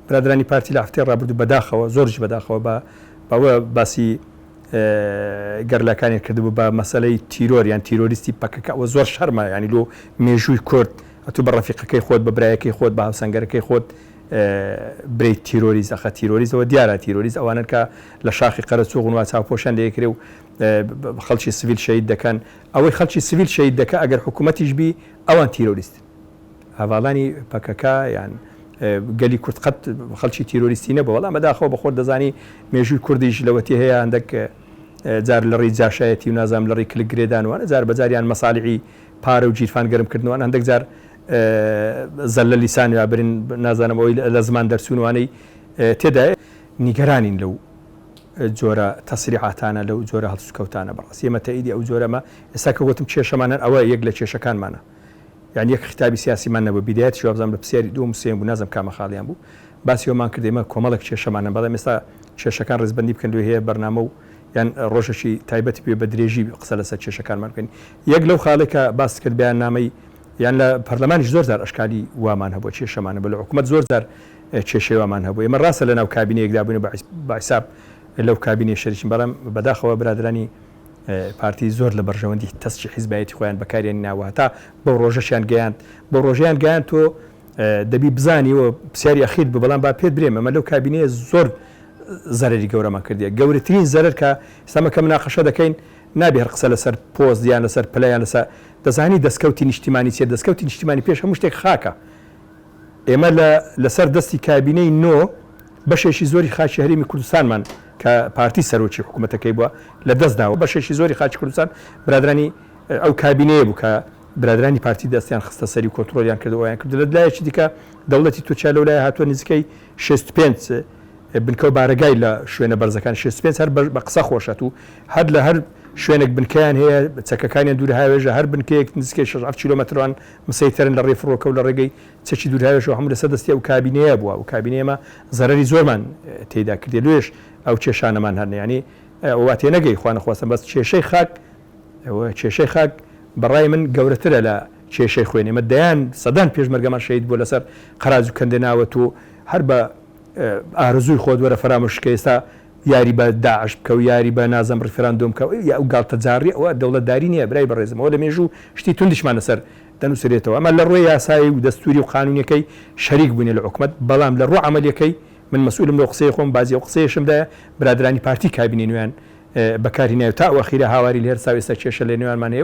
برادەرانی پارتی لە هەفتەی ڕابردوو بەداخەوە زۆرژ بەداخەوە بە بەوە باسی گەرلاکانیان کردبوو بە مەسلەی تیرۆر یان تیرۆریستی پەکەکە ئەوە زۆر شەرمە ینی لۆ مێژووی کورد ئەتو بە ڕەفیقەکەی خۆت بە برایەکەی خۆت بە هاوسەنگەرەکەی خۆت برەی تیرۆریز ئەخە تیرۆریزەوە دیارە تیرۆریز ئەوانن کە لە شاخی قەرەچوو غنوا چاوپۆشان لەیەکرێ و خەڵکی سڤیل شەید دەکەن ئەوەی خەڵکی سڤیل شەید دەکە ئەگەر حکوومەتیش بی ئەوان تیرۆریستن هەڤاڵانی پەکەکە یان گەلی کورد قەت خەڵکی تیرۆریستی نەبوو بەڵام بەداخەوە بەخۆت دەزانی مێژووی کوردیش لەوەتی هەیە هەندێک جار لەڕی جاشایەتی و نازام لەڕی کلک گرێدانوانە جار بەجاریان مەسالیعی پارە و گیرفان گەرم کردنوان هەندێک جار زەلە لیسان یا برین نازانم ئەوی لە زمان دەرچوونوانەی تێدایە نیگەرانین لەو جۆرە تەسریعاتانە لەو جۆرە هەڵسوکەوتانە بەڕاستی ئێمە تەئیدی ئەو جۆرەمە ئێستا کە وتم کێشەمانەن ئەوە یەک لە کێشەکانمانە. یان یەک خیتابی سیاسیمان نەبوو بیدایەتیش وابزانم لە پرسیاری دووەم و سێیەم بوو نازانم کامە خاڵیان بوو باسی ئەوەمان کرد ئێمە کۆمەڵێک کێشەمان هەن بەڵام ئێستا کێشەکان ڕیزبەندی بکەن لێ هەیە بەرنامە و یان ڕۆژێکی تایبەتی پێ بە درێژی قسە لەسەر کێشەکانمان بکەین یەک لەو خاڵێک کە باست کرد بەیاننامەی یان لە پەرلەمانیش زۆر جار ئەشکالی وامان هەبوو کێشەمان هەبوو لە حکوومەت زۆر جار کێشەی وامان هەبوو ئێمە ڕاستە لەناو کابینەیەکدا بووین و بە حیساب لەو کابینەی شەریکین بەڵام بەداخەوە برادەرانی پارتی زۆر لە بەرژەوەندی تەسکی حیزبایەتی خۆیان بەکاریانی ناوە هەتا بەو ڕۆژەشیان گەیاند بەو ڕۆژەیان گەیاند تۆ دەبی بزانی و پرسیاری ئەخیر بوو بەڵام با پێت برێم ئەمە لەو کابینەیە زۆر زەرری گەورەمان کردیە گەورەترین زەرەر کە ئێستامە کە مناقەشە دەکەین نابێ هەر قسە لەسەر پۆست یان لەسەر پلە یان لەسەر دەزانی دەستکەوتی نیشتیمانی چیە دەستکەوتی نیشتیمانی پێش هەموو شتێک خاکە ئێمە لە لەسەر دەستی کابینەی نۆ بەشێکی زۆری خاکی هەرێمی کوردستانمان کە پارتی سەرۆکی حکوومەتەکەی بووە لە دەست داوە بەشێکی زۆری خاکی کوردستان برادرانی ئەو کابینەیە بوو کە برادرانی پارتی دەستیان خستە سەری کۆنترۆلیان کرد وایان کرد لە لایەکی دیکە دەوڵەتی تورکیا لەو لای هاتووە نزیکەی 65 بنکە و بارەگای لە شوێنە بەرزەکان 65 هەر بە قسە خۆشەت و هەر لە هەر شوێنێک بنکەیان هەیە چەکەکانیان دوور هاوێژە هەر بنکەیەک نزیکەی 6 کیلومتران مسەیتەرن لە ڕێی فڕۆکە و لە ڕێگەی چەکی دوورهاوێژەوە هەموو لەسەر دەستی ئەو کابینەیە بووە، ئەو کابینەی ئێمە زەرەری زۆرمان تێیدا کردیە لۆیەش ئەو کێشانەمان هەن یانی وا تێنەگەی خوا نەخواستن بەس کێشەی خاک کێشەی خاک بە ڕای من گەورەترە لە کێشەی خوێن ئێمە دەیان سەدان پێشمەرگەمان شەهید بووە لەسەر قەراج و کەندێناوە تۆ هەر بە ئارەزووی خۆت وەرە فەرامۆشی کە ئێستا یاری بە داعش بکەو یاری بە نازم ڕیفراندۆم بکە یە ئەو گاڵتە جاڕیە ئەوە دەوڵەت داری نیە برای بەڕێزم ئەوە لە مێژوو شتی توندیشمان لەسەر دەنوسرێتەوە ئەمە لە ڕوێ یاسایی و دەستوری و قانونیەکەی شەریک بوینە لە حکومەت بەڵام لە ڕوو عەمەلیەکەی من مەسئولم لەو قسەی خۆم بازی ئەو قسەیەشم دایە برادرانی پارتی کابینەی نوێیان بەکار هینایەو تا ئەو ئەخیرە هاواری لێرساو ئێستا کێشە لە نێوانمان هەیەو